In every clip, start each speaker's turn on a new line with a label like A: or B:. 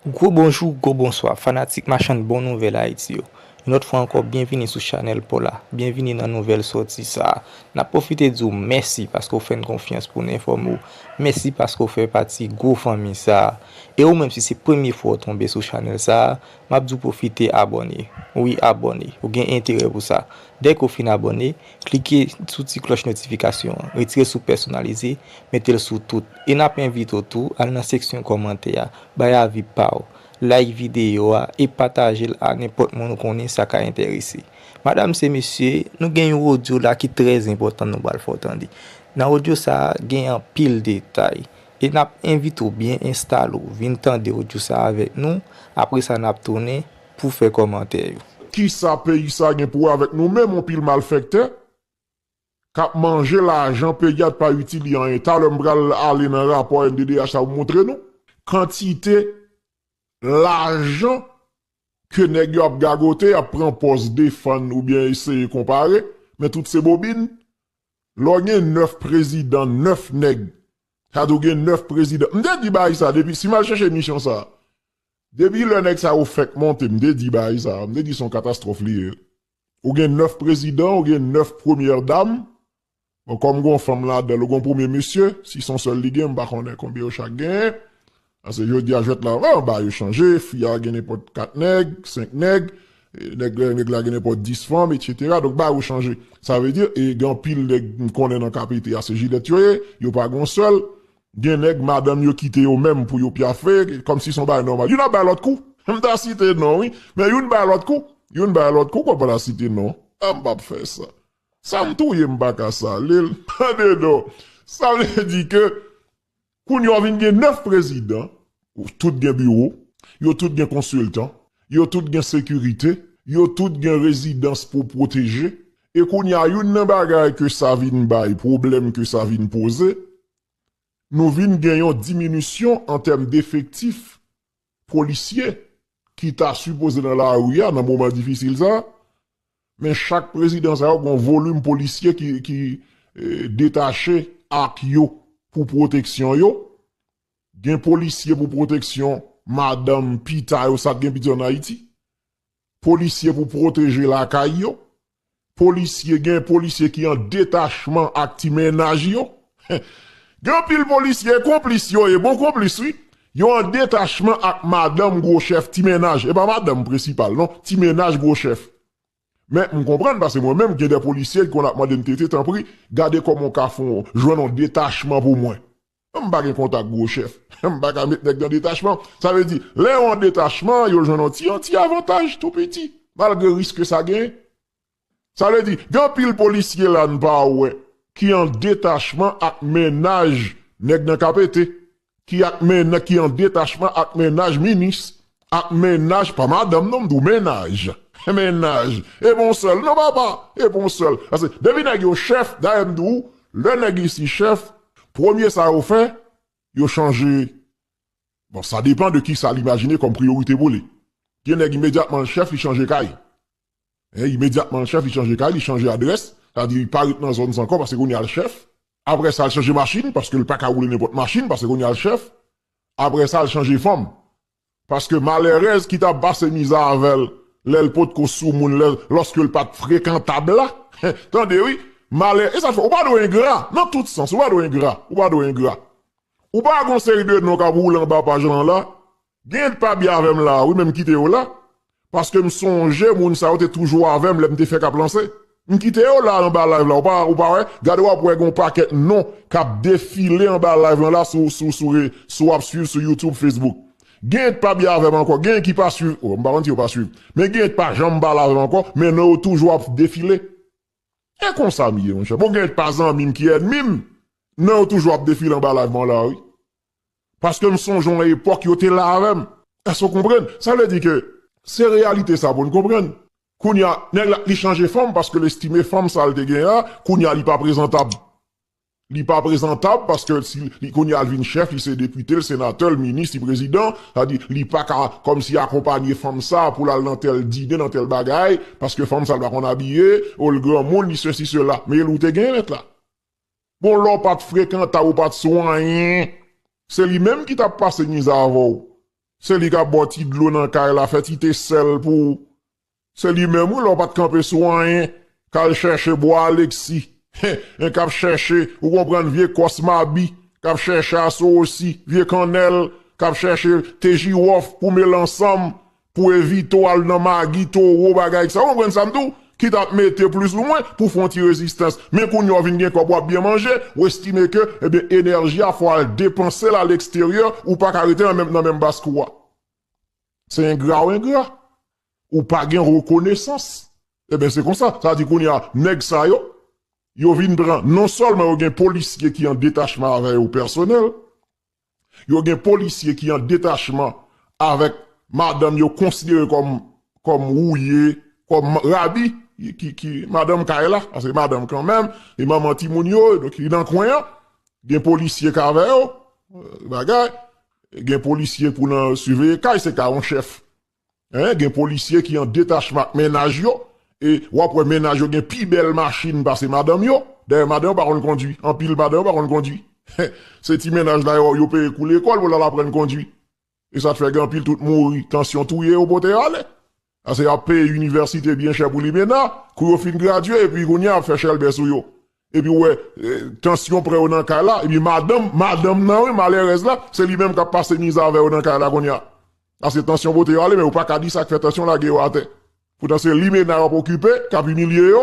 A: Gwo bonjou, gwo bonswa, fanatik machann bon nouvèl Ayiti yo. Yon lòt fwa ankò byenvini sou chanèl paw la, byenvini nan nouvèl sòti sa a. Nap pwofite di w mèsi paske w fè n konfyans pou n enfòme w, mèsi paske w fè pati gwo fanmi sa a. E ou menm si se premye fwa w tonbe sou chanèl sa a, map di w pwofite abòne. Wi abòne, ou gen enterè pou sa. Dèke w fin abòne, Klike sou ti klòch notifikasyon an, retire sou pèsonalize, mete l sou tout. E n ap envite w tou al nan seksyon kòmantè a, bay avi pa w, like videyo a e pataje l a nenpòt moun ou konnen sa ka enterese. Madam se mesye, nou gen yon odyo la ki trè enpòtan nou pral fè w tande. Nan odyo sa a, gen anpil detay. E n ap envite w byen enstale w, vin tande odyo sa a avèk nou, apre sa n ap tounen pou fè kòmantè yo. Kisa peyi
B: sa gen pou wè avèk nou menm yon pil malfèktè kap manje lajan peyi a t pa itil li anyen talè m pral ale nan rapò NDDH sa pou m moutre nou kantite lajan ke nèg yo ap gagote yap pran pòz defann oubyen eseye konpare men tout se bobin lò gen 9 prezidan 9 nèg sa vle di w gen 9 prezidan m te di bagay sa depi si m al chèche emisyon sa Depi lè nèg sa yo fèk monte m te di baay sa, m te di son katastwòf li ye. Ou gen 9 prezidan, ou gen 9 premyè dam, bon kòm gon fanm ladan l ou gon premye misye, si son sèl li gen m pa konnen konbyen yo chak genyen, pase jodi a jwèt la vre anba yo chanje, fi a gen nenpòt 4 nèg, 5 nèg, nèg la gen nenpòt 10 fanm etc. Donk baay yo chanje. Sa vle di e gen anpil nèg m konnen nan KPT a se jilèt yo ye, yo pa gon sèl, Gen nèg madanm yo kite yo menm pou yo pyafe, kòmsi son bagay nòmal. Youn ap bay lòt kou. M ta site non wi, men youn bay lòt kou. Youn bay lòt kou, konpa ta site non. M p ap fè sa. Sa m touye m pa ka sale l. Tande non. Sa vle di ke kounye a w vin gen 9 prezidan, tout gen biwo, yo tout gen konsiltan, yo tout gen sekirite, yo tout gen rezidans pou pwoteje. E kounye a youn nan bagay ke sa vin bay, pwoblèm ke sa vin poze, Nou vin gen yon diminisyon an tèm defektif polisye ki ta sipoze nan lari a nan moman difisil sa a, men chak prezidan sa yo gen yon volim polisye ki detache ak yo pou pwoteksyon yo. Gen polisye pou pwoteksyon madanm, pita yo sa k gen piti an Ayiti. Polisye pou pwoteje lakay yo. Polisye gen polisye ki an detachman ak ti mennaj yo gen anpil polisye konplis yo ye bon konplis wi yo an detachman ak madanm gwo chèf ti mennaj epa madanm prensipal non ti mennaj gwo chèf men m konprann pase mwen menm gen de polisye ki konn ap mande m tete tanpri gade kòman w ka fon jwenn on detachman pou mwen. M pa gen kontak gwo chèf. M pa ka met nèg nan detachman. Sa vle di, lè yo an detachman, yo jwenn yon ti yon ti avantaj tou piti, malgre risk ke sa genyen. Sa vle di, gen anpil polisye la n pa wè, ki an detachman ak mennaj nèg nan KPT, ki ak men, ki an detachman ak mennaj minis, Ak mennaj pa madanm non m di w mennaj mennaj e pou w sèl non papa e pou w sèl pase depi nèg yo chèf dayè m di w lè nèg isi chèf premye sa yo fè yo chanje bon sa depan de kisa l imajine kòm priyorite pou li gen nèg imedyatman l chèf li chanje kay e imedyatman l chèf li chanje kay li chanje adrès sa di li pa ret nan zòn sa ankò pase kounye a l chèf apre sa l chanje machin paske l paka woule nenpòt machin pase kounye a l chèf Aprè sa l chanje fanm. Paske malèrèz ki t ap pase miza avè l lè l potko soumoun lè lòske l pa t frekantab la tande wi malè e sa k fè ou pa dwe engra nan tout sans ou pa dwe engra ou pa dwe engra ou pa gon seri de non k ap woule anba paj lan la gen yon t pa byen avè m la wi men m kite yo la Paske m sonje moun sa yo te toujou avè m lè m te fèk ap lanse. M kite yo la anba live la ou pa wè? Gade w ap wè gen yon pakèt non k ap defile anba live lan la sou ap swiv sou youtube, facebook. Genyen k pa byen avè m ankò, genyen ki pa swiv, m pa konn si yo pa swiv. Men genyen k pa janm pale avè m ankò, men non yo toujou ap defile. E konsa m ye monchè. Bon genyen k pa zanmi m ki ènmi m, non yo toujou ap defile anba live mwen la wi. Paske m sonje yon epòk yo te la avè m. Èske w konprann? Sa vle di ke se reyalite sa pou n konprann. Kounye a, nèg la, li chanje fòm paske l estime fòm sa l te genyen an, kounye a li pa prezantab. Li pa prezantab paske li, kounye a l vin chèf, li se depite, l senatè, l minis, li prezidan. Sa di, li pa ka kòmsi akonpanye fanm sa pou l al nan tèl dine, nan tèl bagay, paske fanm sa l pa konn abiye, o l granmoun, li sesi sela. Men l ou te genyen lèt la. Bon lè w pa t frekantab ou pa t sou anyen se li menm ki t ap pase nwiz avè w se li k ap ba w ti dlo nan kay la fè ti te sèl pou ou se li menm wi lè w pa t kanpe sou anyen k al chèche bwa Aleksi hein k ap chèche ou konprann vye kòs Mabi k ap chèche aso osi vye kannèl k ap chèche te jiwòf pou mele ansanm Pou evite w al nan magi, towo, bagay sa, ou konprann sa m di w, ki t ap mete plis ou mwen, pou w fè yon ti rezistans. Men kounya w vin gen kòb, w ap byen manje, w estime ke, ebyen, enèji a fò w al depanse l aleksteryè, ou pa ka rete nan menm baz kou a. Se engra w engra. Ou pa gen rekonesans. Ebyen, se konsa. Sa vle di kounya, nèg sa yo, yo vin pran, non sèlman yo gen polisye ki an detachman avè yo pèsonèl, Yo gen polisye ki an detachman avèk madanm yo konsidere kòm rouye, kòm rabi, ki madanm kay la, paske se madanm kanmenm, e manman timoun yo, donk li nan kwen an, gen polisye k avè yo, bagay, gen polisye pou nan siveye kay, se ka yon chèf. Hein gen polisye ki an detachman ak mennaj yo e wap wè mennaj yo gen pi bèl machin pase madanm yo dayè madan yo pa konn kondwi anpil madan yo pa konn kondwi hein se ti mennaj la yo yo peye kou lekòl pou lal aprann kondwi esat fè gen anpil tout mouri tansyon touye yo pote yo ale ase yap peye inivèsite byen chè pou li menna kou yo fin gradye epi kounya yap fè chèlbè sou yo epi wè tansyon pran yo nan kay la epi madanm madanm nan wi malèrèz la se li menm kap pase mize avè yo nan kay la kounya Sa se tansyon bote yo ale men yo paka di sak fè tansyon lage yo atè. Poutan se limena yo ap okipe kap imilye yo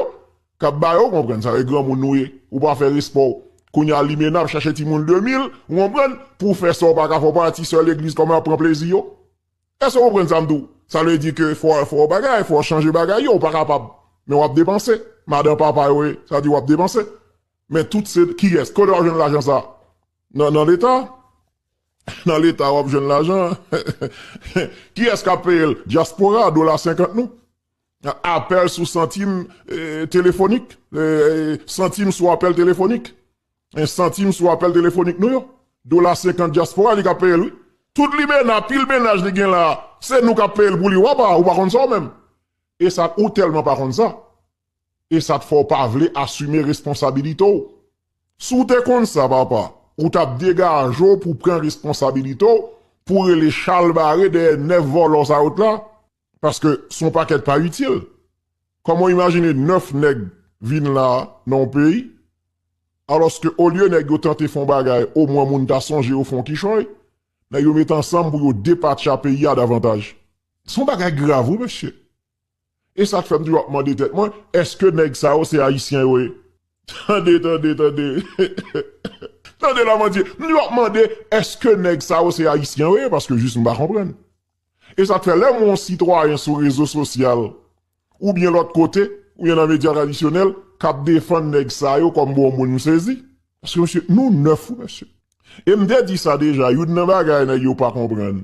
B: kap ba yo konprann sa e granmoun nou ye ou pa fè respè w kounya limena ap chache timoun 2 mil ou konprann pou w fè sa w paka fè w pa ti sè legliz kòman yap pran plezi yo èske w konprann sa m di w sa vle di ke fò fò bagay fò chanje bagay yo ou pa kapab men wap depanse madan papa yo ye sa di wap depanse men tout se kiyès kote wap jwenn lajan sa nan nan leta. Nan leta wap jwenn lajan an kiyès kap peyel diaspora dola 50 nou apèl sou santim telefonik santim sou apèl telefonik santim sou apèl telefonik nou yo dola 50 diaspora li kap peyel wi tout limena pil menaj li gen la se nou kap peyel pou li wapa ou pa konn sa ou menm esak ou tèlman pa konn sa. E sa t fè w pa vle asime responsabilite w? Si w te konn sa papa, ou t ap degaje w pou w pran responsabilite w pou w rele chalbare dèyè 9 vòlò sa yo t la, paske s on pakèt pa itil. Kòman w imajine 9 nèg vin la nan yon peyi, alòske olye nèg yo tante fè yon bagay omwen moun ta sonje yo fè yon kichòy, nèg yo met ansanm pou yo depatcha peyi a davantaj. S on bagay grav wi mesye. E sa k fè m toujou ap mande tèt mwen, èske nèg sa yo se Ayisyen yo ye? Tande, tande, tande! Tande Lamandie! M toujou ap mande, èske nèg sa yo se Ayisyen yo ye? Paske jis m pa konprann. E sa k fè lè m wè yon sitwayen sou rezo sosyal oubyen lòt kote, oubyen nan medya tradisyonèl, k ap defann nèg sa yo kòm bon moun, m sezi. Paske mesye, nou nèf wi mesye. E m te di sa deja, youn nan bagay nèg yo pa konprann,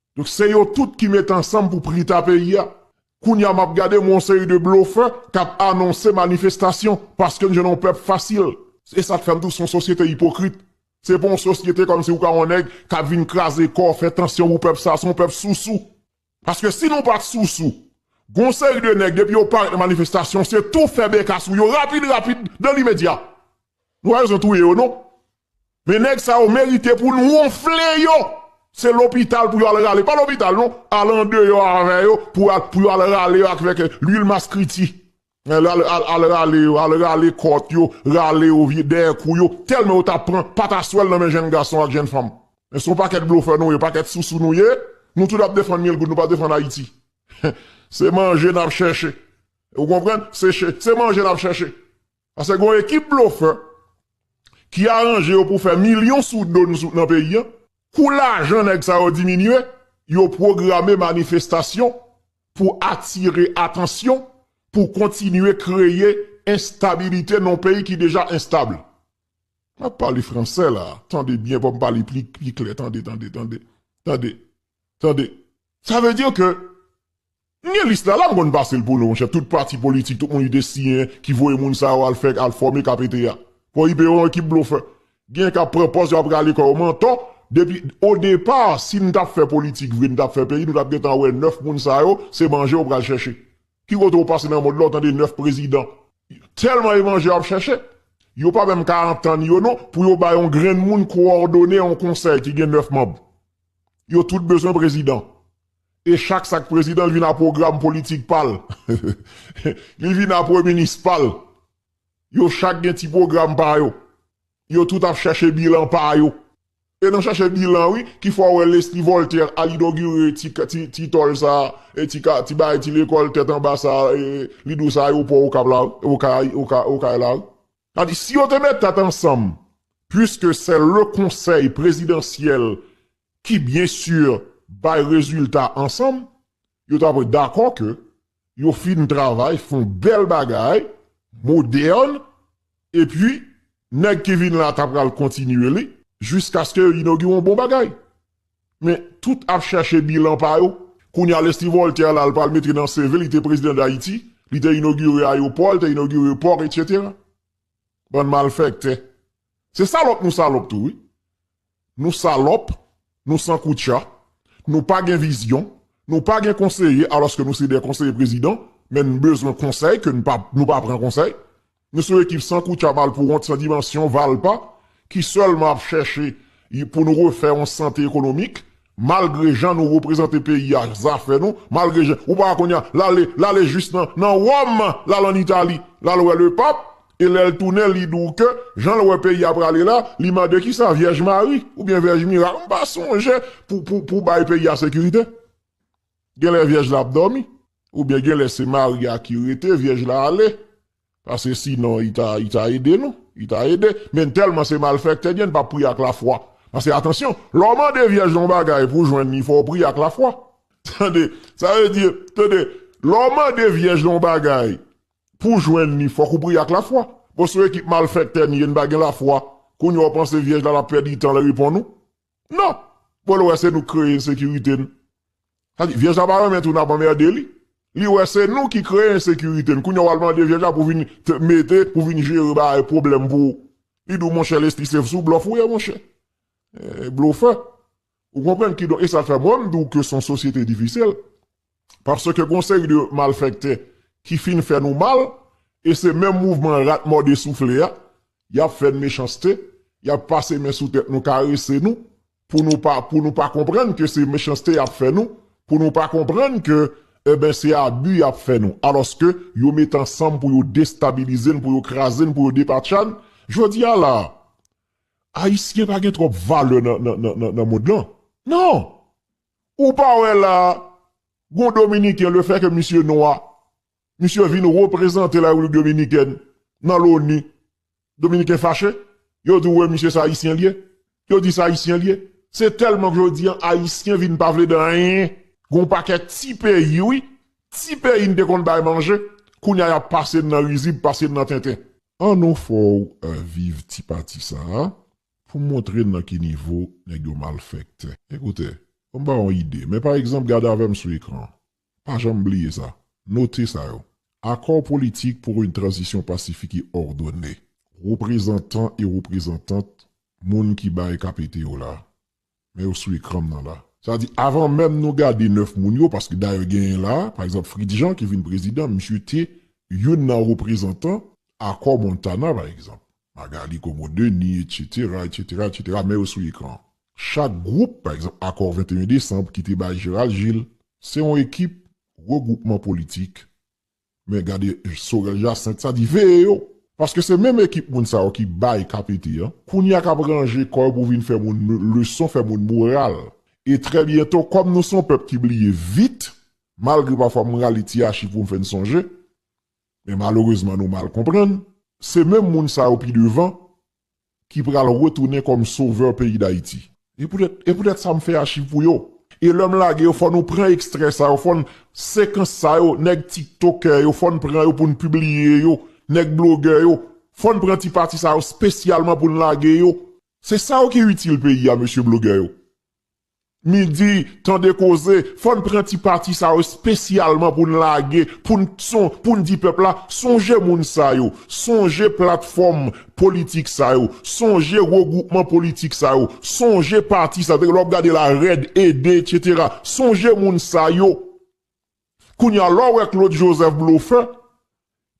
B: Donk se yo tout ki met ansanm pou prita peyi a. Kounya map gade m wè yon seri de blofè kap anonse manifestasyon paske n jwenn yon pèp fasil. Se sak fè m di w se yon sosyete ipokrit. Se pa yon sosyete kòmsi ou ka wè yon nèg kap vin kraze kò, fè tansyon pou pèp sa. Se yon pèp sousou. Paske si nou pat sousou, gen yon seri de nèg depi yo parèt nan manifestasyon se tou fè beka sou yo rapid rapid, dan limedya. Nou pa bezwen touye yo non. Men nèg sa yo merite pou n wonfle yo! Se lopital pou yo al rale, pa lopital non, al andeyò avè yo pou yo al rale yo avèk lwil maskriti. Al rale yo, al rale kòt yo, rale yo dèyè kou yo, tèlman yo ta pran pataswèl nan men jenn gason ak jenn fanm. Men se yon pakèt blofè nou ye, pakèt sousou nou ye, nou tout ap defann Milgoud, nou pa defann Ayiti. Se manje n ap chèche. Ou konprann? Se manje n ap chèche. Paske gon ekip blofè ki aranje yo pou fè milyon sou do n sou nan peyi an. Kou lajan nèg sa yo diminye, yo pwograme manifestasyon pou atire atansyon, pou kontinye kreye enstabilite nan yon peyi ki deja enstab. M ap pale franse la a, tande byen pou m pale pli klè, tande, tande, tande, tande, tande. Sa vle di ke M gen lis la la m konn pase l pou nou monchè tout pati politik tout moun lide siyen ki voye moun sa yo al fè al fòme kpt a koipe yo yon ekip blofè gen kap pran pòz yo ap rale kò yo mantò depi o depa si n tap fè politik vre n tap fè peyi nou tap gentan wè 9 moun sa yo se manje yo pral chèche ki kote ou pase nan mond la ou tande 9 prezidan tèlman e manje yo ap chèche yo pa menm ka antann yo non pou yo bay yon grenn moun kowòdone yon konsèy ki gen 9 manb yo tout bezwen prezidan. E chak sak prezidan li vin a pwogram politik pal li vin a premye minis pal yo chak gen ti pwogram pa yo yo tout ap chache bilan pa yo e nan chache bilan wi ki fè w wè Lesly Voltaire al inogire ti tòl sa ti bagay ti lekòl tèt anba sa li dous ayewopò okap la wi okay la wi. Sa di, si yo te met tèt ansanm, puiske se le konsèy prezidansyèl ki byen si bay rezilta ansanm, yo ta dwe dakò ke yo fin travay, fon bèl bagay, modèn, epi nèg ki vin la ta pral kontinye li, jiskaske yo inogire yon bon bagay. Men, tout ap chèche bilan pa yo. Kounye a, Leslie Voltaire la, li pral mete nan CV l, li te prezidan Dayiti, li te inogire ayopò, li te inogire pò, etsetera. Bann malfèktè. Se salòp nou salòp tou wi. Nou salòp, nou san koutcha, nou pa gen vizyon, nou pa gen konseye alòske nou se de konseye prezidan, men n bezwen konsèy ke n pa, nou pa pran konsèy. Nou son ekip san koutcha malpouwont san dimansyon valpa ki sèlman ap chèche pou nou refè yon sante ekonomik malgre jan nou reprezante peyi a zafè nou malgre jan ou pa wè kounye a lale lale jis nan wòm lal an itali lal wè le pap e lèl tounen li di w ke janl wè peyi a prale la li mande kisa vyèj mari oubyen vyèj mirak m pa sonje pou bay peyi a sekirite. Genlè vyèj la ap dòmi, oubyen genlè se mari a ki rete vyèj la ale, paske sinon li ta li ta ede nou, li ta ede, men tèlman se malfèktè gen pa priye ak lafwa, paske atansyon lè w mande vyèj la yon bagay pou w jwenn li fò w priye ak lafwa tande, sa vle di tande lè w mande vyèj la yon bagay pou w jwenn li fòk ou priye ak lafwa, bon se yon ekip malfèktè n ye n pa gen lafwa, kounya w panse vyèj la ap pèdi tan l reponn ou. Non! Bon l wè se nou k kreye ensekirite n. Sa di, Vyèj la pa renmen tou n ap anmède li. Li wè se nou ki kreye ensekirite n. Kounye a w al mande Vyèj la pou vin mete, pou vin jere bagay, pwoblèm pou ou. Li di w, Monchè Lespri, se sou blòf ou ye monchè. Blofè. Ou konprann? Kidonk, e sa k fè mwen m di w ke s on sosyete difisil. Paske gon seri de malfèktè ki fin fè nou mal, e se menm mouvman rat mòde soufle a, y ap fè n mechanste, y ap pase men sou tèt nou, karese nou, pou nou pa, pou nou pa konprann ke se mechanste y ap fè nou, pou nou pa konprann ke, enben, se abi y ap fè nou. Alòske, yo met ansanm pou yo destabilize n, pou yo kraze n, pou yo depatcha n. Jodi a la a, Ayisyen pa gen twòp valè nan, nan, nan, nan mond lan. Non! Ou pa wè la a, gon Dominiken, le fè ke misye nwa, misye vin reprezante la Repiblik Dominikèn nan loni, Dominiken fache, yo di ou wè misye se Ayisyen li ye, yo di se Ayisyen li ye. Se tèlman ke jodi an Ayisyen vin pa vle de anyen. Gon pakèt ti peyi wi, ti peyi n te konn bay manje, kounye a y ap pase n nan rizib, pase n nan tenten. An nou fè w viv ti pati sa a, Pou montre nan ki nivo nèg yo malfèktè, ekoute, fò m ba w yon ide, men pa egzanp gade avè m sou ekran, pa janm bliye sa, note sa yo, Accord politique pour une transition pacifique et ordonnée. Reprezantan e reprezantant moun ki bay KPT yo la, Men yo sou ekranm nan la. Sa di avan menm nou gade 9 moun yo, paske dayè genyen la, pa egzanp Fritz Jean ki vin prezidan, misye te youn nan reprezantan Akò Montana pa egzanp. Magalie Comeau Denis, etsetera, etsetera, etsetera, men yo sou ekran. Chak gwoup, pa egzanp Akò 21 Desanb ki te bay Gérald Gilles, se yon ekip, regwoupman politik, Men gade Sorel Jacinthe sa di veye yo. Paske se menm ekip moun sa yo ki bay KPT an. Kounya kap ranje kò yo pou vin fè moun leson fè moun moral. E trè byento kòm nou son pèp ki bliye vit malgre pafwa m rale ti achiv pou m fè n sonje men malerezman nou mal konprann. Se menm moun sa yo pi devan Ki pral retounen kòm sovè peyi Dayiti. E poutèt e poutèt sa m fè achiv pou yo. E lè m lage yo fò nou pran ekstrè sa yo, fò n, sekans sa yo, nèg tiktokè yo, fò n pran yo pou n pibliye yo, nèg blogè yo, fò n pran ti pati sa yo spesyalman pou n lage yo. Se sa yo ki itil peyi a mesye blogè yo. Midi tande koze, fò n pran ti pati sa yo spesyalman pou n lage, pou n son, pou n di pèp la, sonje moun sa yo, sonje platfòm politik sa yo, sonje regwoupman politik sa yo, sonje pati sa yo, lè w ap gade la, REDD etc. Sonje moun sa yo. Kounya lè w wè Claude Joseph blofè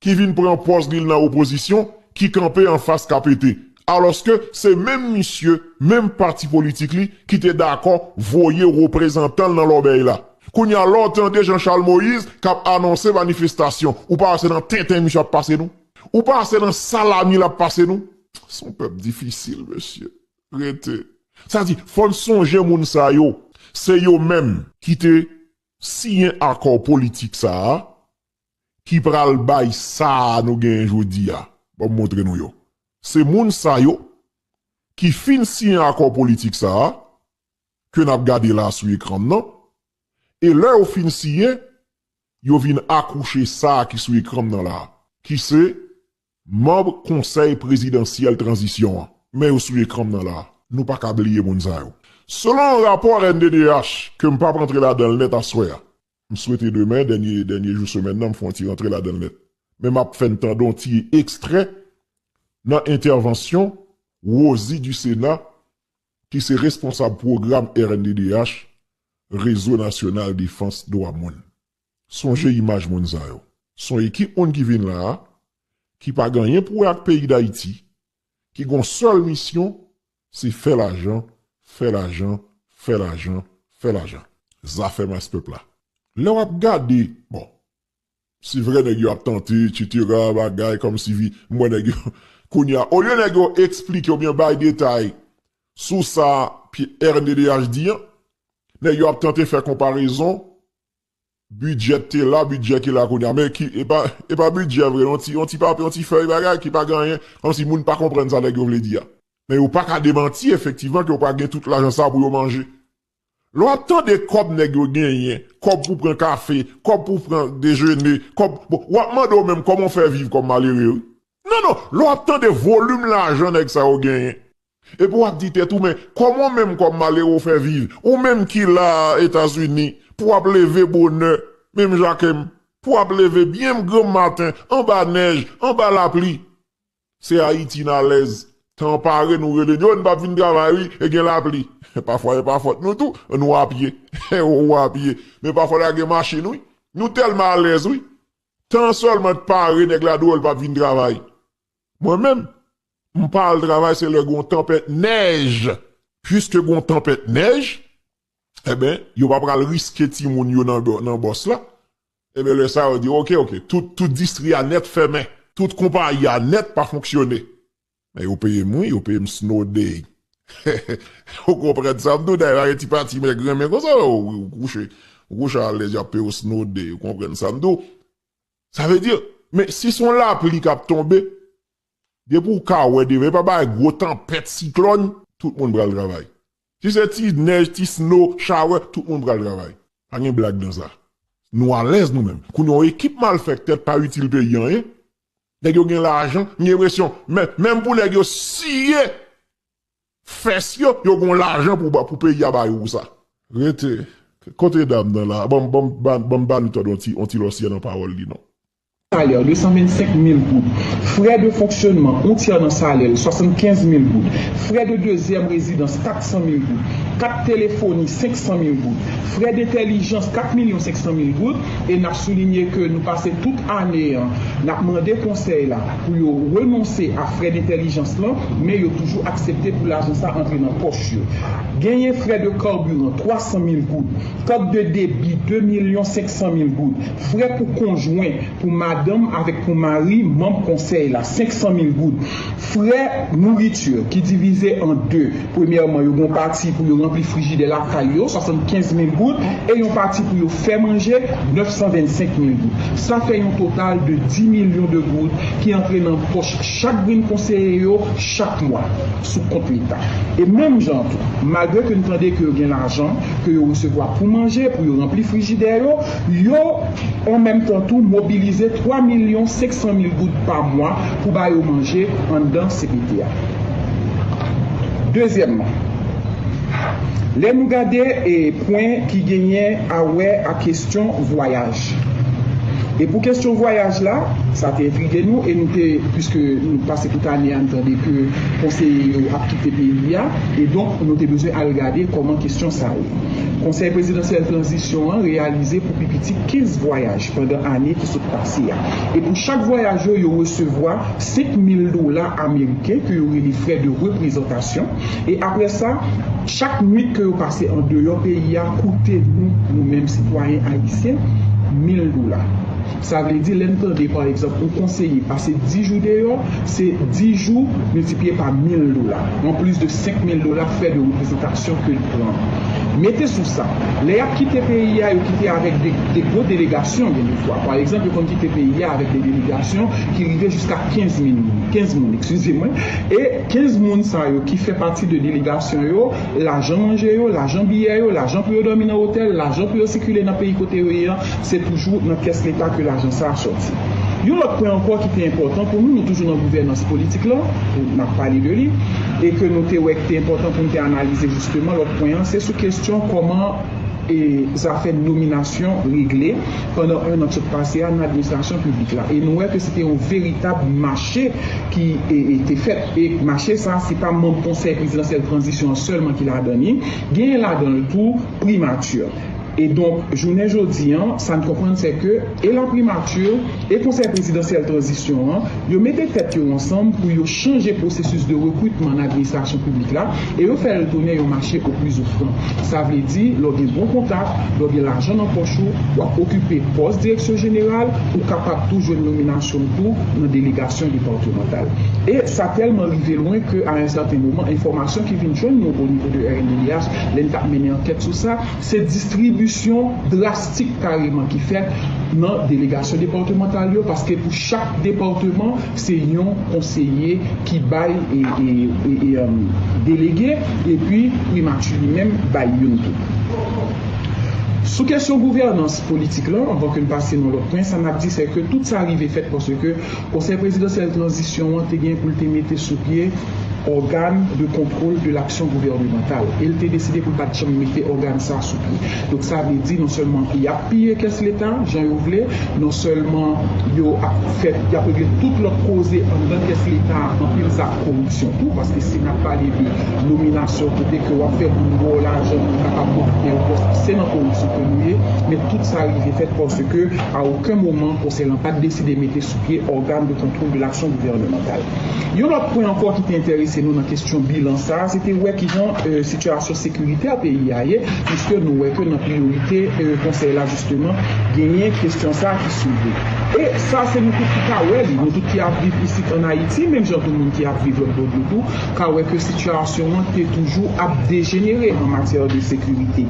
B: ki vin pran pòz li l nan opozisyon ki kanpe anfas KPT alòske se menm misye, menm pati politik li ki te dakò voye reprezantan l nan lòbèy la. Kounya lè w tande Jean Charles Moïse k ap anonse manifestasyon ou pa wè se nan tenten misye ap pase nou? Ou pa wè se nan salami l ap pase nou? S on pèp difisil mesye. Rete. Sa di fò n sonje moun sa yo se yo menm ki te siyen akò politik sa a ki pral bay sa a nou genyen jodi a, ban m montre nou yo, se moun sa yo ki fin siyen akò politik sa a ke n ap gade la a sou ekran n nan, e lè yo fin siyen, yo vin akouche sa a ki sou ekran m nan la a, ki se Manb Konsèy Prezidansyèl Tranzisyon an, men yo sou ekran m nan la a, nou pa ka bliye moun sa yo. Selon yon rapò rnddh, ke m p ap rantre ladan l nèt aswè a, m swete demen, dènye dènye jou semèn nan, m fè yon ti rantre ladan l nèt, men m ap fè n tande yon ti ekstrè nan entèvansyon Rosie Ducénat, ki se responsab pwogram rnddh, Rezo Nasyonal Defans Dwa Moun. Sonje imaj moun sa yo. S on ekip moun ki vin la a, ki pa gen anyen pou wè ak peyi Dayiti, ki gen yon sèl misyon, se fè lajan, fè lajan, fè lajan, fè lajan. Zafè mas pèp la. Lè w ap gade, bon, se vre nèg yo ap tante, etsetera, bagay, kòmsi vi, m wè nèg yo, kounye a, olye nèg yo esplike oubyen bay detay sou sa RNDDH di an, nèg yo ap tante fè konparezon Bidjè te la, bidjè ki la kounye a. Men ki, e pa bidjè vre, yon ti, yon ti papye, yon ti fèy bagay ki pa gen anyen, kòm si moun pa konprann sa nèg yo vle di a. Men yo pa ka demanti efektivman ke yo pa gen tout lajan sa a pou yo manje. Lè w ap tande kòb nèg yo genyen, kòb pou pran kafe, kòb pou pran dejene, kòb, bon, w ap mande w menm kòman w fè viv kòm malere wi. Non, non, lè w ap tande volim lajan nèg sa yo genyen. Epi w ap di tèt ou men kòman w menm kòm malere w fè viv, ou menm ki la a Etazini, pou w ap leve bonè, menm jan ke m, pou w ap leve byen granm maten, anba nèj, anba lapli. Se Ayiti n alèz. Tan pare nou rele n yo, n pa vin travay wi, e gen lapli. Pafwa e pa fòt nou tou, nou a pye. Ou a pye. Men pafwa ta gen machin wi. Nou tèlman alèz wi. Tan sèlman t pare nèg la di w l pa vin travay. Mwen menm. M pa al travay se lè gon tanpèt nèj. Puiske gon tanpèt nèj, enben, yo pa pral riske timoun yo nan bòs la. Enben, lè sa yo di ok, ok. Tout distri a nèt fèmen. Tout konpayi a nèt pa fonksyone. Men yo peye m wi, yo peye m snow day. Ou konprann sa m di w? Dayè pa gen ti pati mèg renmen konsa lè ou kouche. Ou kouche alèz y ap peye w snow day. Ou konprann sa m di w? Sa vle di, men si s on lapli k ap tonbe, Depi ou ka wè devan e pa bagay gwo tanpèt, siklòn, tout moun pral travay. Si se ti nèj, ti snow, shower, tout moun pral travay. Pa gen blag nan sa. Nou alèz nou menm. Kounye yon ekip malfèktè k pa itil peyi anyen. Nèg yo gen lajan, m gen enpresyon menm pou nèg yo siye fès yo, yo gon lajan pou peyi a ba yo pou sa. Rete, kote dam nan la? Banm ba nou tande yon ti lòsyè nan pawòl li non. salè 225
C: mil goud, frè de fonksyonman, on tyè nan salè l, 75 mil goud, frè de dezyèm rezidans, 400 mil goud, kat telefoni, 500 mil goud, frè dentèlijans, 4 milyon 500 mil goud, e n ap soulinye ke nou pase tout ane an n ap mande konsèy la pou yo renonse a frè dentèlijans lan, men yo toujou aksepte pou lajan sa antre nan pòch yo. Genyen frè de karbiran, 300 mil goud, kat de debi, 2 milyon 500 mil goud, Frè pou konjwen, pou madanm avèk pou mari manm konsèy la, 500 mil goud. Frè nouriti, ki divize an de, premyèman yo gen yon pati pou yo ranpli frijidè lakay yo, 75 mil goud, e yon pati pou yo fè manje, 925 mil goud. Sa fè yon total de 10 milyon de goud ki antre nan pòch chak grenn konseye yo chak mwa, sou kont leta. E menm jan an tou, malgre ke n tande ke yo gen lajan ke yo resevwa pou manje, pou yo ranpli frijidè yo, Yo, an menm tan tou, mobilize 3 milyon 500 mil goud pa mwa pou ba yo manje anndan cpt a. Dezyèmman, lè nou gade pwen ki genyen a wè ak kesyon vwayaj, e pou kesyon vwayaj la, sa te entrige nou e nou te, piske nou pase tout ane a, nou tande ke konseye yo ap kite peyi a, e donk nou te bezwen al gade kòman kesyon sa ye. Konsèy Prezidansyèl Tranzisyon an reyalize pou pi piti 15 vwayaj pandan ane ki sot pase a, e pou chak vwayaj yo, yo resevwa 5 mil dola ameriken ke yo rele frè de reprezantasyon, e apre sa, chak nwit ke yo pase andeyò peyi a koute nou, nou menm sitwayen ayisyen, mil dola. Sa vle di, lè n tande pa egzanp yon konseye pase 10 jou deyò, se 10 jou miltipliye pa 1000 dola, an plis de 5000 dola frè de reprezantasyon ke l pran. Mete sou sa, lè y ap kite peyi a, yo kite avèk de gwo delegasyon gen de fwa. Pa egzanp, yo konn kite peyi a avèk de delegasyon ki rive jiska 15 min moun, 15 moun, ekskize mwen, e 15 moun sa yo ki fè pati de delegasyon yo, lajan manje yo, lajan biyè yo, lajan pou yo dòmi nan otèl, lajan pou yo sikile nan peyi kote yo ye an, Se toujou nan kès leta ke lajan sa a sòti. Yon lòt pwen ankò ki te enpòtan pou nou, nou toujou nan gouvènans politik la, pou n ap pale de li, e ke nou te wè ki te enpòtan pou n te analize jisteman, lòt pwen an, se sou kesyon kòman zafè nominasyon regle pandan 1 an k sot pase a nan administrasyon piblik la. E nou wè ke se te yon veritab mache ki te fèt. E mache sa a, se pa manm Konsèy Prezidansyèl Tranzisyon an sèlman ki ladan li, genyen ladan l tou Primati. E donk, jounen jodi an, sa n konprann sè ke e laprimati, e Konsèy Prezidansyèl Tranzisyon an, yo mete tèt yo ansanm pou yo chanje pwosesis de rekritman nan administrasyon piblik la e yo fè l tounen yon mache o pli zofran. Sa vle di, lè w gen bon kontak, lè w gen lajan nan pòch ou, w ap okipe pòs direksyon jeneral, ou kapab tou jwenn nominasyon tou nan delegasyon depatmantal. E sa tèlman rive lwen ke a un certain moment, enfòmasyon ki vin jwenn nou o nivo de rnddh, lè li t ap mennen ankèt sou sa, se distribisyon drastik kareman ki fèt nan delegasyon depatmantal yo paske pou chak depatman se yon konseye ki bay delege epi primati li menm bay youn tou. Sou kesyon gouvènans politik lan, anvan ke n pase nan lòt pwen, sa n ap di sè ke tout sa rive fèt paske konsèy prezidansyèl tranzisyon an te gen pou l te mete sou pye, Organe de contrôle de l'action gouvernementale e l te deside pou l pa t janm mete ògàn sa sou pye. Donk sa vle di non sèlman y ap piye kès leta jan yo vle, non sèlman yo ap fè y ap regle tout lòt koze anndan kès leta a, anpil sa ak koripsyon tou paske si n ap pale de nominasyon kote ke w ap fè moun ba w lajan pou l kapab okipe yon pòs se nan koripsyon ke nou ye men tout sa rive fèt paske a oken moman konsèy lan pa t deside mete sou pye organe de contrôle de l'action gouvernementale. Yon lòt pwen ankò ki te enterese nou nan kesyon bilan sa a, se te wè kijan sitiyasyon sekirite a peyi a ye, piske nou wè ke nan priyorite konsèy la jisteman genyen kesyon sa a ki soulve. E sa se nou tout ki ka wè li, nou tout ki ap viv isit an Ayiti, menm jan tou moun ki ap viv lòtbò dlo tou, ka wè ke sitiyasyon an te toujou ap dejenere an matyè de sekirite.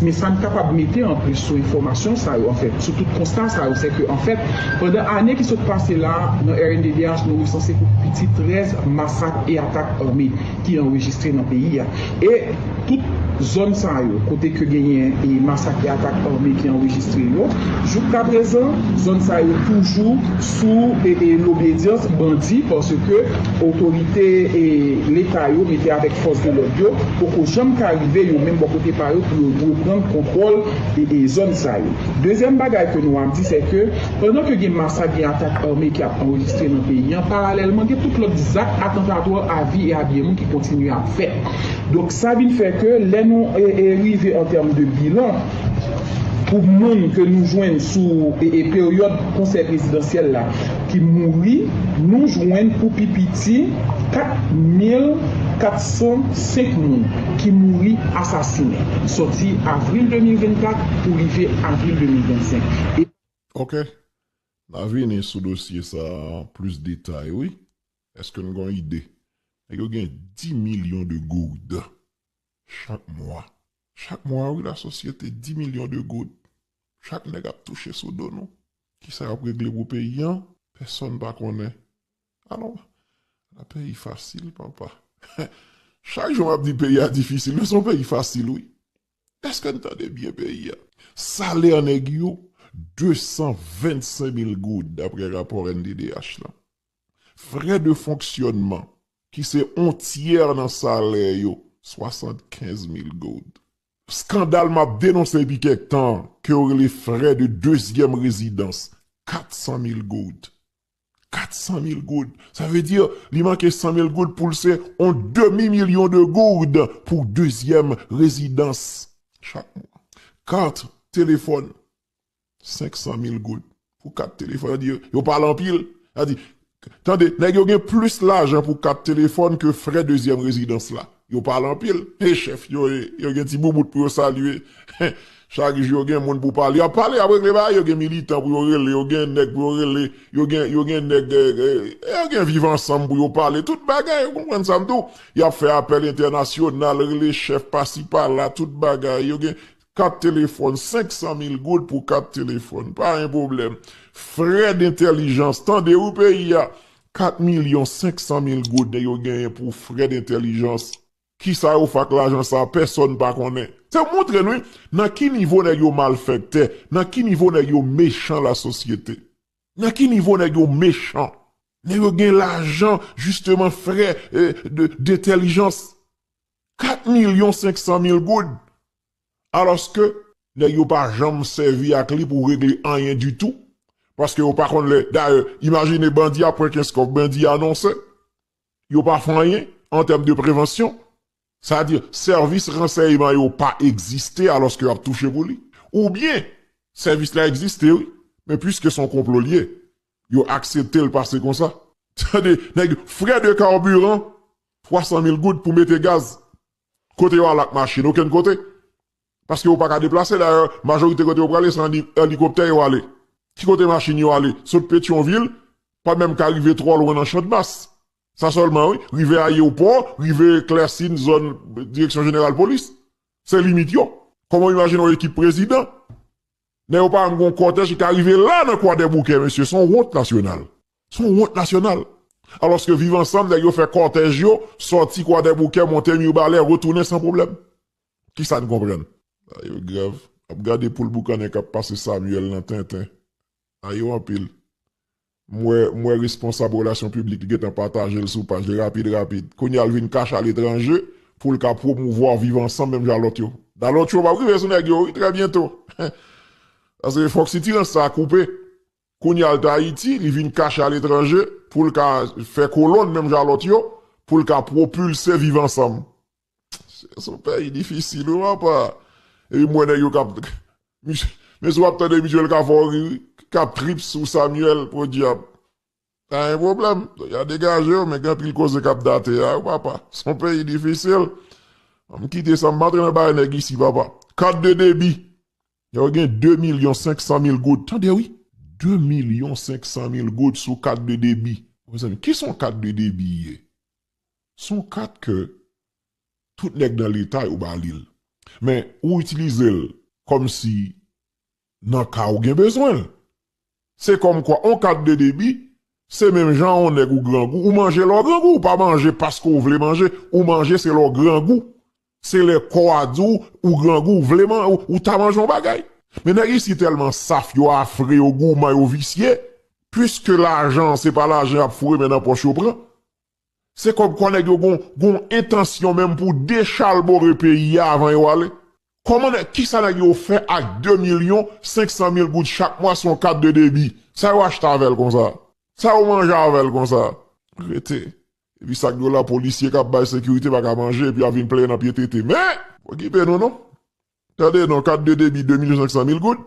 C: Men sa n kapab mete anplis sou enfòmasyon sa yo, anfen, Sou tout konsta sa yo, sèke anfèt, pandan ane ki sot pase la a, nan rnddh nou resanse pou pi piti 13 masak e atak ame ki anrejistre nan peyi a. E tout zòn sa yo, kote ke genyen masak e atak ame ki anrejistre yo, jouktaprezan, zòn sa yo toujou sou lobedyans bandi, paske otorite Leta yo mete avèk fòs de lòd yo poko janm ka rive yo menm bò kote pa yo pou yo reprann kontwòl zòn sa yo. Dezyèm bagay ke nou ap di sè ke pandan ke gen masak, gen atak ame ki ap anrejistre nan peyi an, paralèlman gen tout lòt zak atantatwa a vi e a byen moun ki kontinye ap fèt. Donk sa vin fè ke lè nou rive an tèm de bilan pou moun ke nou jwenn sou peryòd konsèy prezidansyèl la, ki mouri, nou jwenn pou pi piti 4,405 moun ki mouri asasinen sòti avril 2024 pou rive avril 2025, e. Ok.
B: N a vini sou dosye sa a an plis detay wi. Eske n gen yon ide? Nèg yo gen 10 milyon de gourdes chak mwa. Chak mwa wi la sosyete 10 milyon de goud chak nèg ap touche sou do nou. Kisa yap regle pou peyi an pèsòn pa konnen alon la peyi fasil papa chak jou map di peyi a difisil men son peyi fasil wi eske'n tande byen peyi a. Salè nèg yo 225 mil goud daprè rapò rnddh lan. Frè de fonksyònman, ki se on tyè nan salè yo, 75 mil goud. Skandal m ap denonse depi kèk tan an, ke yo rele frè de dezyèm rezidans, 400 mil goud. 400 mil goud! Sa vle di, li manke 100 mil goud pou l se on demi milyon de gourd pou dezyèm rezidans chak mwa. Kat telefòn, 500 mil goud pou kat telefòn. Sa di yo pale anpil. Sa di, tande, nèg yo gen plis lajan pou kat telefòn ke frè dezyèm rezidans la. Yo pale anpil. E chèf yo e, yo gen ti boubout pou yo salye. Chak jou yo gen moun pou pale. Y ap pale, y ap regle bagay. Yo gen militan pou yo rele, yo gen nèg pou yo rele. Yo gen, yo gen nèg, yo gen viv ansanm pou yo pale. Tout bagay, ou konprann sa m di w. Y ap fè apèl entènasyonal, rele chèf pasi pala, tout bagay. Yo gen, Kat telefòn, 500 mil goud pou kat telefòn, pa gen pwoblèm. Frè dentèlijans, tande wi peyi a, 4 milyon 500 mil goud nèg yo genyen pou frè dentèlijans. Kisa yo fè ak lajan sa a, pèsòn pa konnen. Sa montre n wi, nan ki nivo nèg yo malfèktè, nan ki nivo nèg yo mechan lasosyete. Nan ki nivo nèg yo mechan. Nèg yo gen lajan jisteman frè dentèlijans. 4 milyon 500 mil goud! Alòske, nèg yo pa janm sèvi ak li pou regle anyen ditou, paske yo pa konn lè, dayè, imajine bandi ap pran kenskof, bandi anonse, yo pa fè anyen, an tèm de prevansyon, sa di, sèvis ransèyman yo pa egziste alòske yo ap touche pou li. Oubyen, sèvis la egziste wi, men pwiske son konplo li ye, Yo aksepte l pase konsa. Tande nèg frais de carburant 300 mil goud pou mete gaz kote yo al ak machin okenn kote paske yo paka deplase dayè majorite kote yo prale se an elikoptè yo ale ki kote machin yo ale sot petyonvil pa menm ka rive twò lwen nan chandmas sa sèlman wi rive ayewopò rive klèsin zòn direksyon jeneral polis se limit yo kòman w imajine yon ekip prezidan Lè yo pa janm gon kòtèj ki ka rive la nan kwadèboukè mesye son wont nasyonal son wont nasyonal alòske viv ansanm nèg yo fè kòtèj yo sòti kwadèboukè monte mirbalè retounen san problèm kisa n konprann. Sa yo grav ap gade poul boukannen kap pase Samuel nan tenten sa yo anpil M wè, m wè responsab relasyon piblik ki gentan pataje l sou paj li rapid rapid. Kounye a l vin kache aletranje pou l ka pwomouvwa viv ansanm menm jan a lòt yo. Da lòt cho pap rive sou nèg yo wi trè byento. Paske fòk sitirans sa a koupe. Kounye a l t Ayiti, li vin kache aletranje pou l ka fè kolonn menm jan a lòt yo, pou l ka pwopilse viv ansanm. Son peyi difisil wi papa. Epi m wè nèg yo kap Men si wap tande misye li ka fè w ri wi, kap trip sou Samuel podyab. Pa gen pwoblèm, ya degaje yo men gen anpil koze kap date a wi papa. Son peyi difisil. An m kite sa m pa antre nan bagay nèg isi papa. Kat de debi. Yo gen 2 milyon 500 mil goud. Tande wi. 2 milyon 500 mil goud sou kat de debi. Mezanmi kisa yon kat de debi ye? Se yon kat ke tout nèg nan leta yo ba li l. Men ou itilize l kòm si nan ka ou gen bezwen l. Se kòm kwa yon kat de debi se menm jan yon nèg ou grangou, ou manje lè w grangou, ou pa manje paske w vle manje, ou manje se lè w grangou. Se lè kò a di w ou grangou, ou vle manje, ou ta manje yon bagay. Men nèg isit tèlman saf, yo afre, yo gouman, yo visye, piske lajan se pa lajan y ap foure men nan pòch yo pran, Se kòmkwa nèg yo gon gon entansyon menm pou dechalbore peyi a avan yo ale. Kòman nèg, kisa nèg yo fè ak 2 milyon 500 mil goud chak mwa sou yon kat de debi? Sa yo achte avè l konsa? Sa yo manje avè l konsa? Rete. Epi sa k dwòl la polisye k ap bay sekirite pa ka manje epi y ap vin plenyen nan pye tete. Men! Okipe nou non. Tande non, kat de debi 2 milyon 500 mil goud?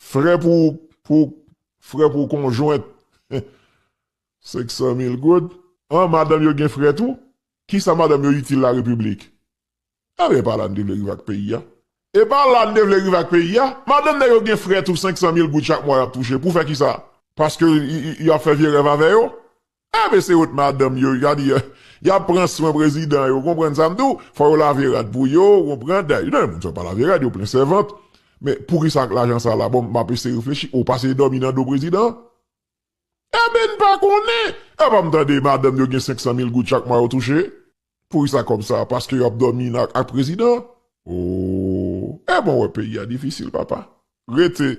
B: Frè pou pou frè pou konjwent. 500 mil goud? An madanm yo gen frè tou? Kisa madanm yo itil la repiblik? Enben epa la n te vle rive ak peyi a? Epa la n te vle rive ak peyi a? Madanm nèg yo gen frè tou 500 mil goud chak mwa yap touche pou fè kisa? Paske yo ap fè vye rèv avè yo? Enben se wont madanm yo gade yap pran swen prezidan yo konprann sa m di w fò yo lave rad pou yo ou konprann dayè gen moun sa yo pa lave rad yo plen sèvant men poukisa ak lajan sa la bon map eseye reflechi ou pase dòmi nan do prezidan? Enben n pa konnen! Epa m tande madanm yo gen 500 mil goud chak mwa yo touche? Poukisa kòb sa? Paske yo ap dòmi nan ak prezidan? Ooh! Enben w wè peyi a difisil papa. Rete.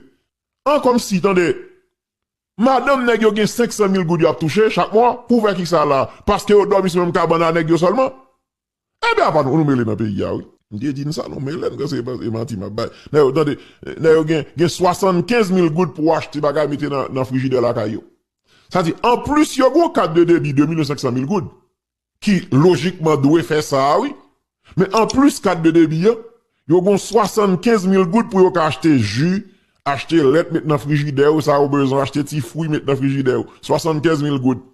B: An kòmsi, tande! Madanm nèg yo gen 500 mil goud yo ap touche chak mwa? Pou fè kisa la? Paske yo dòmi sou menm kabann a nèg yo sèlman? Ebyen apa nou mele nan peyi a wi. M te di n sa nou mele n kan se e manti map bay nèg yo tande nèg yo gen gen 75 mil goud pou achte bagay mete nan nan frijidè lakay yo sa di anplis yo gon kat de debi 2 milyon 500 mil goud ki lojikman dwe fè sa wi men anplis kat de debi an yo gon 75 mil goud pou yo ka achte ji achte lèt met nan frijidè yo sa yo bezwen achte ti fwi met nan frijidè yo 75 mil goud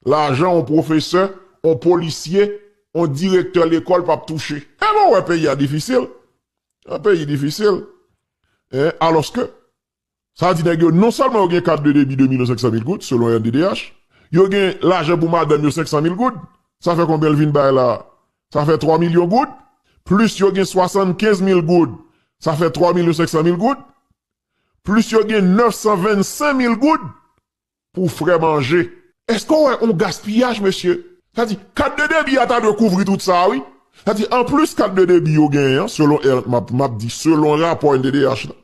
B: lajan yon pwofesè, yon polisye, yon direktè lekòl pap touche. E lè w wè peyi a difisil, yon peyi difisil, alòske sa di nèg yo non sèlman yo gen kat de debi 2 milyon 500 mil goud selon rnddh, yo gen lajan pou madanm yo 500 mil goud, sa fè konbyen l vin bay la a? Sa fè 3 milyon goud, plis yo gen 75 mil goud, sa fè 3 milyon 500 mil goud, plis yo gen 925 mil goud. Pou frè manje. Eske w wè on gaspiyaj mesye? Sa di, kat de debi a ta dwe kouvri tout sa wi. Sa di, an plis kat de debi yo genyen an, selon er, m ap di selon rapò NDDH la.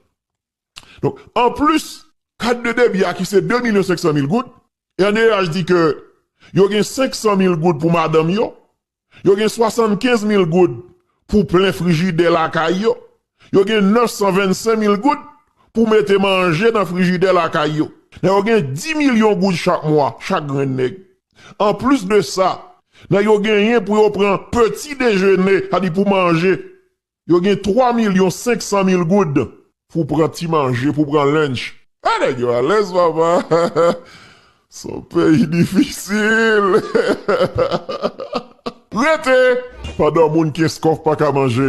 B: Donk, an plis kat de debi a ki se 2 milyon 500 mil goud, RNDDH di ke yo gen 500 mil goud pou madanm yo, Yo gen 75 mil goud pou plen frijidè lakay yo. Yo gen 925 mil goud pou mete manje nan frijidè lakay yo. Nèg yo gen 10 milyon goud chak mwa, chak grenn nèg. Anplis de sa, nèg yo genyen pou yo pran peti dejene, sa di pou manje, Yo gen 3 milyon 500 mil goud pou pran ti manje, pou pran lunch. Ah nèg yo alèz papa son peyi difisil. Rete! Pandan moun kenskof pa ka manje,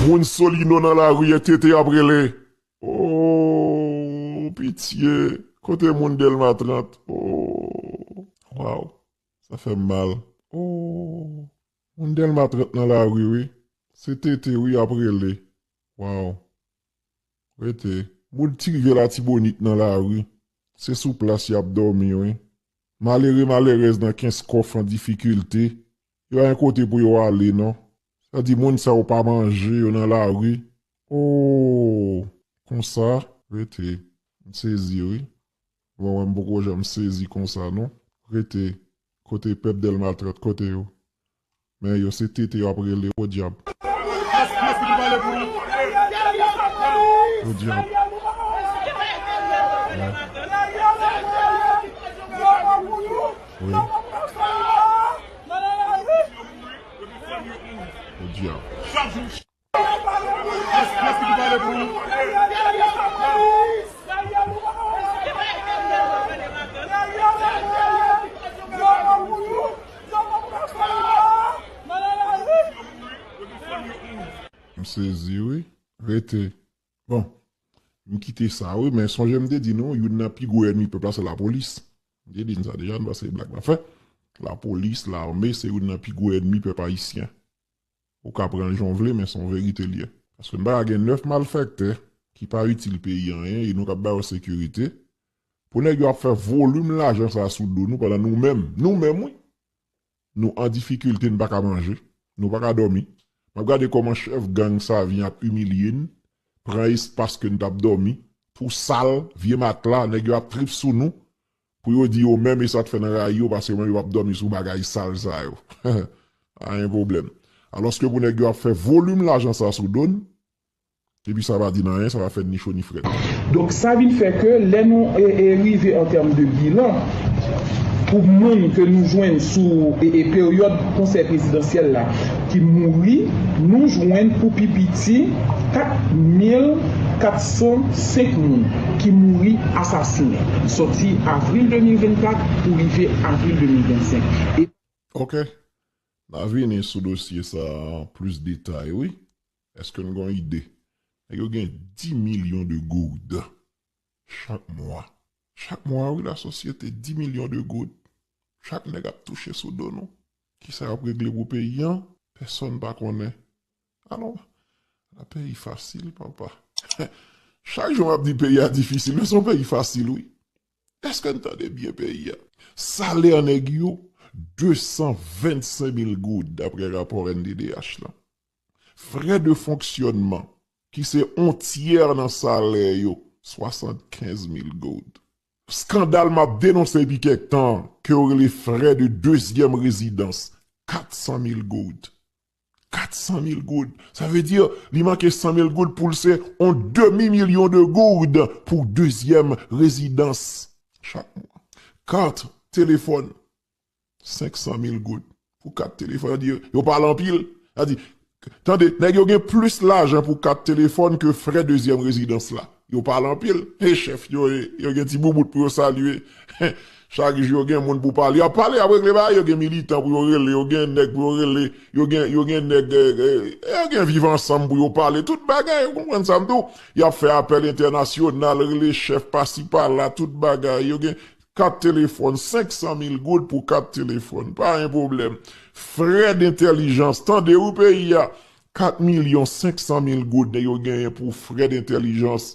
B: moun solino nan lari e tete ap rele ooh pitye kote moun delma 30 ooh waww sa fèm mal ooh. Moun delma 30 nan lari wi. Se TT wi yap rele waw rete. Moun ti rivyè latibonit nan lari se sou plas yap domi wi. Malere malerèz nan kenskof an difikilte yo ayen kote pou yo ale non. Sa di moun sa yo pa manje yo nan lari ooh konsa rete. M sezi wi. Mwen wè m poko janm sezi konsa non. Rete, kote pèp delma 30 kote yo? Men yo se tete yo ap rele podyab. Podyab. Wi. Podyab. M sezi wi. Rete. Bon. M kite sa wi men sonje m te di nou youn nan pi gwo ènmi pèp la se lapolis. M te di n sa deja m pa se blag m ap fè. Lapolis, lame se youn nan pi gwo ènmi pèp ayisyen. Ou ka pranl jan w vle men son verite l ye. Paske m pa ka gen 9 malfèktè ki pa itil peyi anyen e nou kap ba yo sekirite pou nèg yo ap fè volim lajan sa sou do nou pandan nou menm, nou menm wi, nou an difikilte n pa ka manje, nou pa ka dòmi. Map gade kòman chèf gang sa vin ap imilye n, pran espas ke n tap dòmi, twou sal, vye matla, nèg yo ap trip sou nou. Pou yo di yo menm e sa t fè nan rayi yo paske menm yo pap dòmi sou bagay sal sa yo pa gen pwoblèm alòske pou nèg yo ap fè volim lajan sa sou do n epi sa pa di n anyen sa pa fè n ni cho ni frèt. Donk sa vin fè
C: ke lè nou rive an tèm de bilan pou moun ke nou jwenn sou peryòd konsèy prezidansyèl la. ki mouri, nou jwenn pou pi piti 4,405 moun ki mouri asasinen sòti avril 2024 pou rive avril 2025, e. Ok.
B: N a vini sou dosye sa a an plis detay wi. Eske n gen yon ide? Nèg yo gen 10 milyon de gourd. Chak mwa. Chak mwa wi la sosyete 10 milyon de goud chak nèg ap touche sou do nou. Kisa yap regle pou peyi an pèsòn pa konnen alò la peyi fasil papa chak jou map di peyi a difisil men son peyi fasil wi eske n tande byen peyi a. Salè nèg yo 225 mil goud daprè rapò rnddh lan. Frè de fonksyònman, ki se on tyè nan salè yo, 75 mil goud. Skandal m ap denonse depi kèk tan an, ke yo rele frè de dezyèm rezidans, 400 mil goud. 400 mil goud! Sa vle di, li manke 100 mil goud pou l se on demi milyon de goud pou dezyèm rezidans chak mwa. Kat telefòn, 500 mil goud pou kat telefòn. Yo di yo pale anpil. Sa di, tande, nèg yo gen plis lajan pou kat telefòn ke frè dezyèm rezidans la. Yo pale anpil. E chèf yo e, yo gen ti boubout pou yo salye. Chak jou yo gen moun pou pale. Y ap pale, y ap regle bagay. Yo gen militan pou yo rele, yo gen nèg pou yo rele. Yo gen, yo gen nèg, yo gen viv ansanm pou yo pale. Tout bagay, ou konprann sa m di w. Y ap fè apèl entènasyonal, rele chèf pasi pala, tout bagay. Yo gen, Kat telefòn, 500 mil goud pou kat telefòn, pa gen pwoblèm. Frè dentèlijans, tande wi peyi a, 4 milyon 500 mil goud nèg yo genyen pou frè dentèlijans.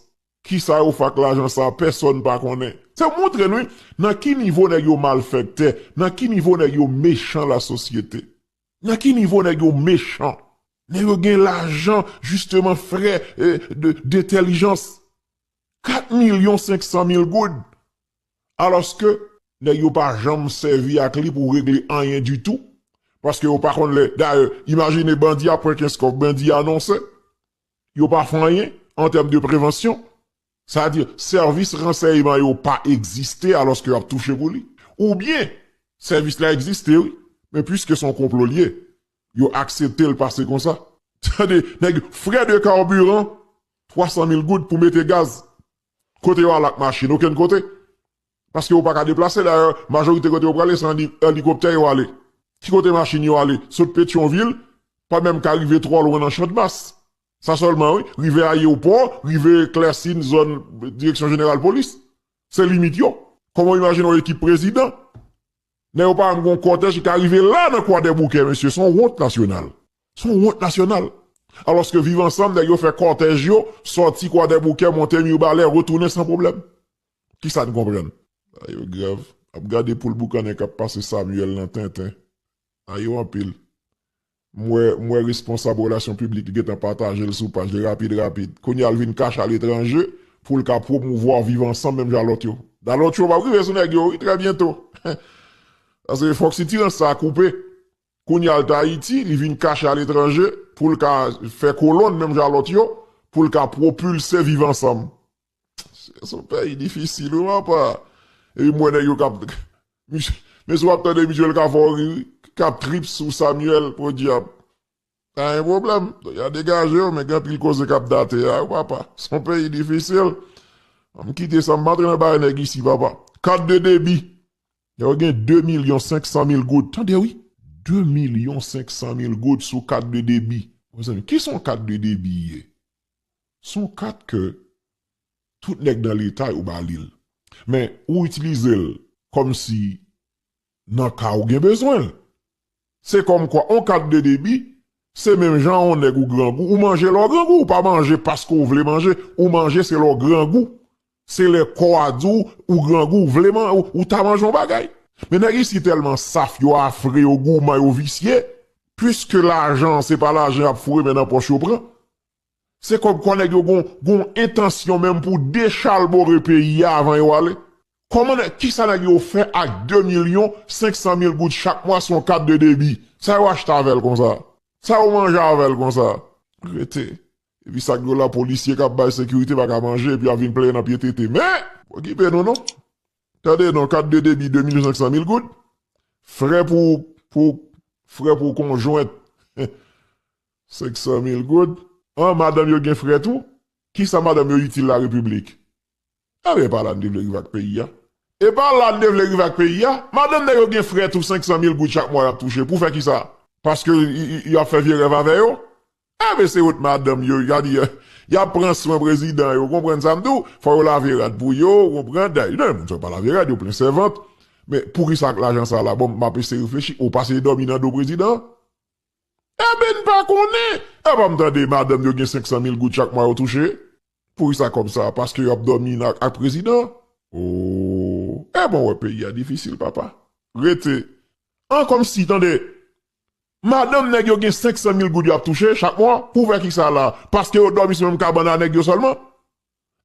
B: Kisa yo fè ak lajan sa a, pèsòn pa konnen. Sa montre n wi, nan ki nivo nèg yo malfèktè, nan ki nivo nèg yo mechan lasosyete. Nan ki nivo nèg yo mechan. Nèg yo gen lajan jisteman frè dentèlijans. 4 milyon 500 mil goud! Alòske, nèg yo pa janm sèvi ak li pou regle anyen ditou, paske yo pa konn lè, dayè, imajine bandi ap pran kenskof, bandi anonse, yo pa fè anyen, an tèm de prevansyon, sa vle di, sèvis ransèyman yo pa egziste alòske yo ap touche pou li. Oubyen, sèvis la egziste wi, men puiske se yon konplo li ye, yo aksepte l pase konsa. Tande, nèg, frè de karbiran, 300 mil goud pou mete gaz kote yo al ak machin okenn kote paske yo pa ka deplase dayè majorite kote yo prale se an elikoptè yo ale ki kote machin yo ale sot petyon vil pa menm ka rive twò lwen nan chandmas sa sèlman wi rive ayewopò rive klèsin zòn direksyon jeneral polis se limit yo kòman w imajine yon ekip prezidan nèg yo pa menm gen yon kòtèj ki ka rive la nan kwadèboukè mesye se yon wont nasyonal. S on wont nasyonal. Alòske Viv Ansanm, nèg yo fè kòtèj yo, sòti Kwadèboukè, monte Mirbalè, retounen san pwoblèm. Ki sa n konprann? A yo grèv. Ap gade poul boukannen k ap pase Samyèl nan tenten. A yo anpil. M wè, m wè responsab relasyon piblik yo gen tan pataje l sou paj li rapid rapid. Kounye a l vin kache aletranje pou l ka pwomouvwa Viv Ansanm menm jan a lòt yo. Da lòt yo p ap rive sou nèg yo wi trè byento. Paske fòk sitirans sa a koupe. Kounya l t Ayiti, li vin kache aletranje pou l ka fè kolonn menm jan a lòt yo, pou l ka pwopilse Viv Ansanm. Se yon peyi difisil wi papa. Epi m wè nèg yo k ap Mesye w ap tande misye l ka fè w ri wi, k ap trip sou Samyèl podyab. Pa gen pwoblèm, y a degaje yo men gen anpil koze k ap date la wi papa. Se yon peyi difisil. An m kite sa, m pa antre nan bagay nèg isi papa. Kat de debi. Lè w gen 2 milyon 500 mil goud, tande wi! 2 milyon 500 mil goud sou kat de debi. Mezanmi, kisa yon kat de debi ye? Se yon kat ke tout nèg nan leta yo ba li l. Men, ou itilize l kòmsi nan ka ou gen bezwen l. Se kòmkwa on kat de debi, se menm jan on nèg ou grangou, ou manje lè w grangou, ou pa manje paske w vle manje, ou manje se lè w grangou. Se lè kò a di w ou grangou, w vle man, ou ta manje on bagay. Men nèg isi tèlman saf, yo afre, yo gouman, yo visye, piske lajan an se pa lajan y ap foure men nan pòch yo pran, Se kòmkwa nèg yo gon gon entansyon menm pou dechalbore peyi a avan yo ale. Kòman nèg, kisa nèg yo fè ak 2 milyon 500 mil goud chak mwa sou yon kat de debi? Sa yo achte avè l konsa? Sa yo manje avè l konsa? Rete. Epi sa k dwòl la polisye k ap bay sekirite pa ka manje epi y ap vin plenyen nan pye tete. Men! Okipe nou non. Tande non, kat de debi 2 milyon 500 mil goud, frè pou pou frè pou konjwent. 500 mil goud? An madanm yo gen frè tou? Kisa madanm yo itil la repiblik? Enben epa la n te vle rive ak peyi a? Epa la n te vle rive ak peyi a? Madanm nèg yo gen frè tou 500 mil goud chak mwa yap touche pou fè kisa? Paske yo ap fè vye rèv avè yo? Enben se wont madanm yo sa di yap pran swen prezidan yo konprann sa m di w fò yo lave rad pou yo ou konprann dayè gen moun sa yo pa lave rad yo plen sèvant men poukisa ak lajan sa la bon map eseye reflechi ou pase dòmi nan do prezidan? Eben n pa konnen! Epa m tande madanm yo gen 500 mil goud chak mwa yo touche? Poukisa kòb sa? Paske yo ap dòmi nan ak prezidan? Ooh! Eban w wè peyi a difisil papa. Rete. An kòmsi, tande! Madanm nèg yo gen 500 mil goud yo ap touche chak mwa? Pou fè kisa la? Paske yo dòmi sou menm kabann a nèg yo sèlman?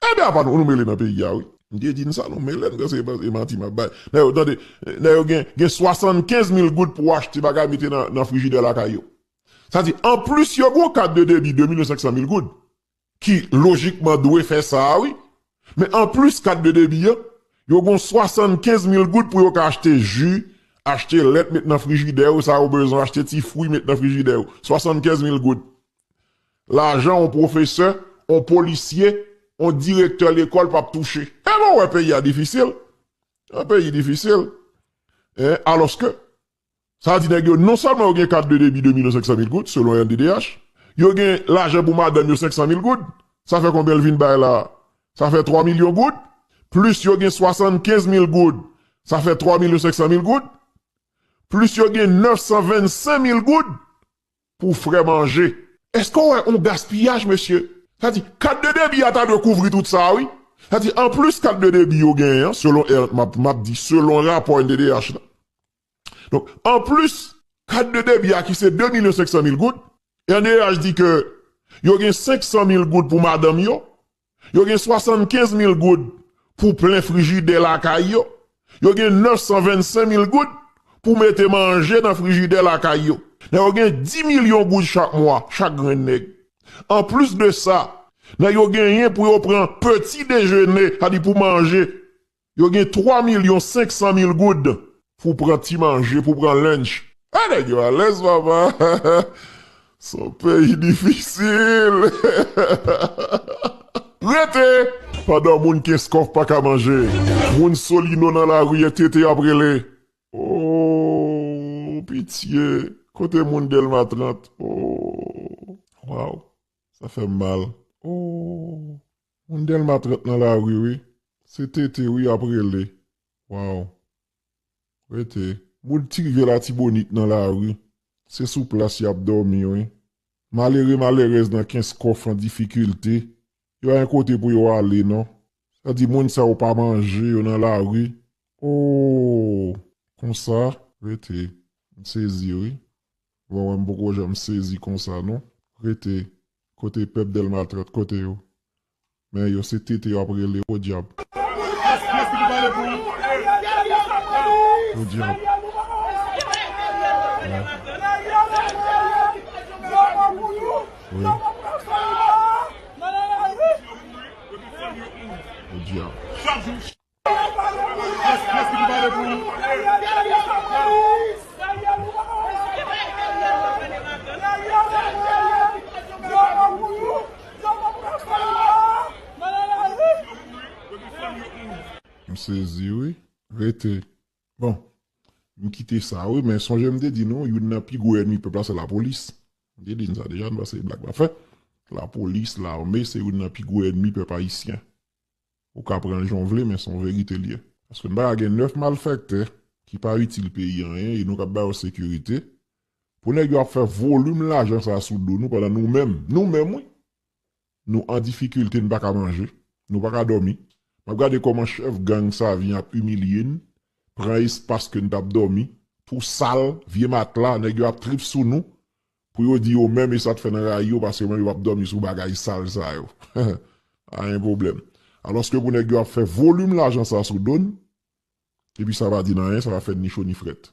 B: Anben apa nou mele nan peyi a wi. M te di n sa nou mele n dan se e manti map bay nèg yo tande nèg yo gen gen 75 mil goud pou achte bagay mete nan nan frijidè lakay yo sa di anplis yo gon kat de debi 2 milyon 500 mil goud ki lojikman dwe fè sa a wi men anplis kat de debi an yo gon 75 mil goud pou yo ka achte ji achte lèt met nan frijidè yo sa yo bezwen achte ti fwi met nan frijidè yo 75 mil goud lajan on pwofesè, on polisye, on direktè lekòl pap touche. E lè w wè peyi a difisil, yon peyi difisil, alòske sa vle di nèg yo non sèlman yo gen kat de debi 2 milyon 500 mil goud selon rnddh, yo gen lajan pou madanm yo 500 mil goud, sa fè konbyen l vin bay la a? Sa fè 3 milyon goud, plis yo gen 75 mil goud, sa fè 3 milyon 500 mil goud, plis yo gen 925 mil goud, Pou fre manje. Eske w wè on gaspiyaj mesye? Sa di, kat de debi a ta dwe kouvri tout sa a wi. Sa di, an plis kat de debi yo genyen an, selon er, map, map di selon rapò NDDH la. Donk, an plis kat de debi a ki se 2 milyon 500 mil goud, NDDH di ke yo gen 500 mil goud pou madanm yo, Yo gen 75 mil goud pou plen frijidè lakay yo. Yo gen 925 mil goud pou mete manje nan frijidè lakay yo. Nèg yo gen 10 milyon goud chak mwa, chak grenn nèg. Anplis de sa, nèg yo genyen pou yo pran peti dejene, sa di pou manje Yo gen 3 milyon 500 mil goud pou pran ti manje, pou pran lunch. Ah nèg yo alèz papa son peyi difisil. Rete! Pandan moun kenskof paka manje, moun solino nan lari e tete ap rele ooh pitye kote moun delma 30 ooh waww sa fèm mal ooh. Moun delma 30 nan lari wi. Se TT wi yap rele waw rete. Moun ti rivyè latibonit nan lari se sou plas yap domi wi. Malere malerèz nan kenskòf an difikilte yo ayen kote pou yo ale non. Sa di moun sa yo pa manje yo nan lari ooh konsa rete. M sezi wi. Wawa m poko janm sezi konsa non rete kote pèp delma 30 kote yo men yo se tete yo ap rele podyab. Podyab. Podyab. M sezi wi. Rete. Bon. M kite sa wi men sonje m te di nou youn nan pi gwo ènmi pèp la se lapolis. M te di n sa deja n pa se blag m ap fè. Lapolis, lame se youn nan pi gwo ènmi pèp ayisyen. Ou ka pran l jan w vle men se yon verite l ye. Paske m pa ka gen 9 malfèktè ki pa itil peyi anyen e nou k ap ba yo sekirite pou nèg yo ap fè volim lajan sa sou do nou pandan nou menm, nou menm wi! nou an difikilte n pa ka manje, nou pa ka dòmi. M ap gade kòman chèf gang sa vin ap imilye n, pran espas ke n t ap dòmi, twou sal, vye matla, nèg yo ap trip sou nou. Pou yo di yo menm e sa t fè nan rayi yo paske yo menm yo pap dòmi sou bagay sal sa yo pa gen pwoblèm alòske pou nèg yo ap fè volim lajan sa sou do n epi sa pa di n anyen sa pa fè n ni cho ni frèt.